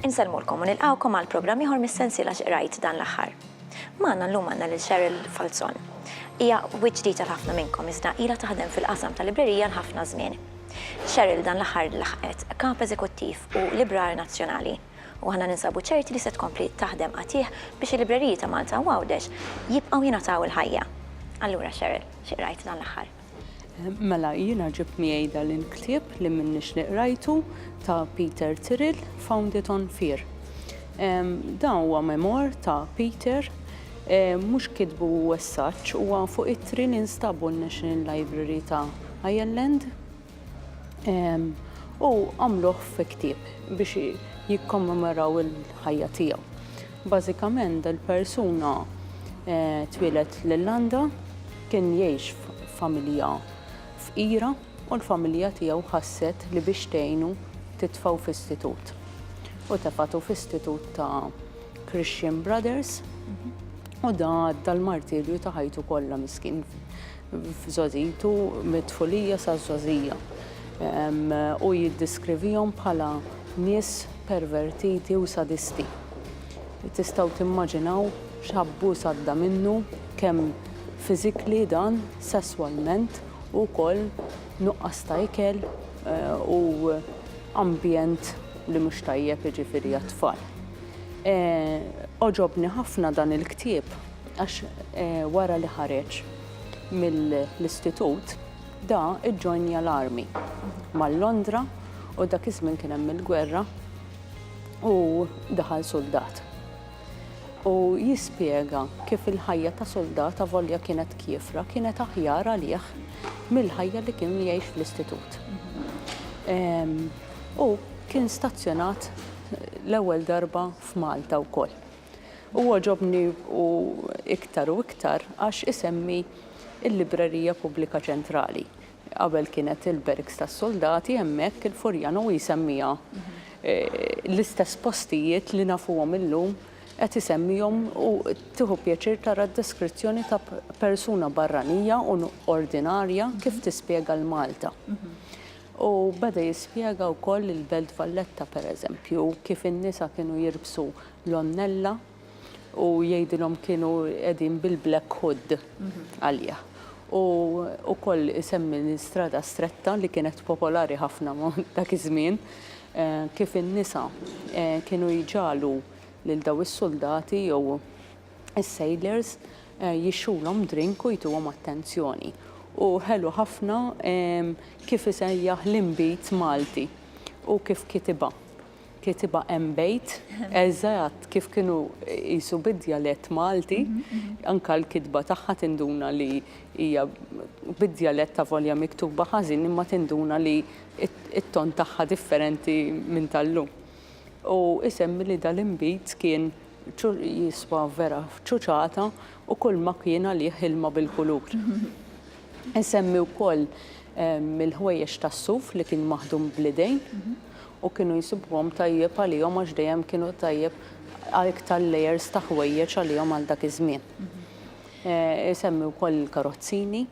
Insellmulkom u nilqgħukom għal programm ieħor mis-sensiela x'qrajt dan l-aħħar. Magħna llum għandna lil Cheryl Falzon. Hija wiċċ ġdid għal ħafna minnkom iżda ilha taħdem fil-qasam tal-librerija għal ħafna żmien. Cheryl dan l-aħħar laħqet Kap Eżekuttiv u Librar Nazzjonali. u aħna ninsabu ċerti li se tkompli taħdem qatigħ biex il-libreriji ta' Malta u Għawdex jibqgħu jingħataw il-ħajja. Allura Cheryl, xi qrajt dan l-aħħar? Mela, jiena ġibt miegħi dan il-ktieb li minnix li qrajtu ta' Peter Tyrrell, Found It on Fear. Dan huwa memoir ta' Peter, mhux kitbu as such, huwa fuq ittri li nstabu n-National Library ta' Ireland. u għamluh fi ktieb biex jikkommemoraw il-ħajja tiegħu. Bażikament dal-persuna eh, twieled l-Irlanda, kien jgħix familja fqira u l-familja tiegħu ħasset li biex tgħinu titfaw f'istitut. U tefatu f'istitut ta' Christian Brothers u da dal-martirju ta' ħajtu kollha miskin f'żgħożijitu, mit-tfulija saż-żgħożija, u jiddiskrivihom bħala nies pervertiti u sadisti. Tistgħu timmaġinaw x'abbuż għadda minnu, kemm fiżikli dan, sesswalment, u wkoll nuqqas ta' ikel u ambjent li mhux tajjeb jiġifieri għat-tfal. Għoġobni ħafna dan il-ktieb għax wara li ħareġ mill-istitut da ġġoinja l-armi mal-Londra u dak iż-żmien kien hemm il-gwerra u daħal suldat. U jispjega kif il-ħajja ta' suldat avolja kienet kiefra kienet aħjar għalih mill-ħajja li kien jgħix fl-istitut. U kien stazzjonat l-ewwel darba f'Malta wkoll. u għoġobni u iktar u iktar għax isemmi l-Librerija Pubblika Ċentrali. Qabel kienet il-Berks tas-Suldati hemmhekk il-Furjan u jsemmiha l-istess postijiet li nafuhom illum qed isemmihom u tieħu pjaċir tara d-deskrizzjoni ta' persuna barranija u ordinarja kif tispjega l-Malta. U beda jispjega wkoll il-Belt Valletta pereżempju kif in-nisa kienu jirbsu l-onnella u jgħidilhom kienu qegħdin bil-black hood għalih. U wkoll isemmi l-istrada stretta li kienet popolari ħafna dak iż-żmien kif in-nisa kienu jġagħlu lil daw is-suldati jew is-sailors jixrulhom drink u jtuhom attenzjoni. U ħelu ħafna kif isejjaħ l-inbid Malti u kif kitibha. kitibha hemm bejt eżatt kif kienu qisu bid-djalett Malti, anke l-kitba tagħha tinduna li hija bid-djalett avolja miktuba ħażin imma tinduna li t-ton tagħha differenti minn tal-lum. U isemmi li dal-inbid kien jiswa vera f'ċuċata u kulma kien għalih ilma bil-kulur. Isemmi wkoll il-ħwejjeġ tas-suf li kien maħdum bl-idejn. u kienu jsibuhom tajjeb għalihom għax dejjem kienu tajjeb għal iktar layers ta' ħwejjeġ għalihom għal dak iż-żmien. Isemmi wkoll il-karozzini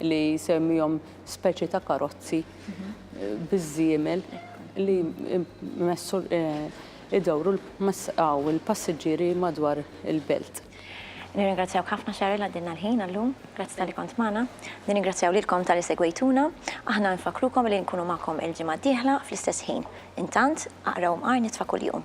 li jsemmihom speċi ta' karozzi biż-żiemel li jmessu idawru l-passiġġieri madwar il-belt. Nirringrazzjawk ħafna Cheryl għaddilna l-ħin għal-lum. Grazzi talli kont magħna. Nirringrazzjaw lilkom talli segwejtuna. Aħna nfakkrukom li nkunu magħkom il-ġimgħa d-dieħla fl-istess ħin. Intant, aqraw mqar nitfa' kuljum.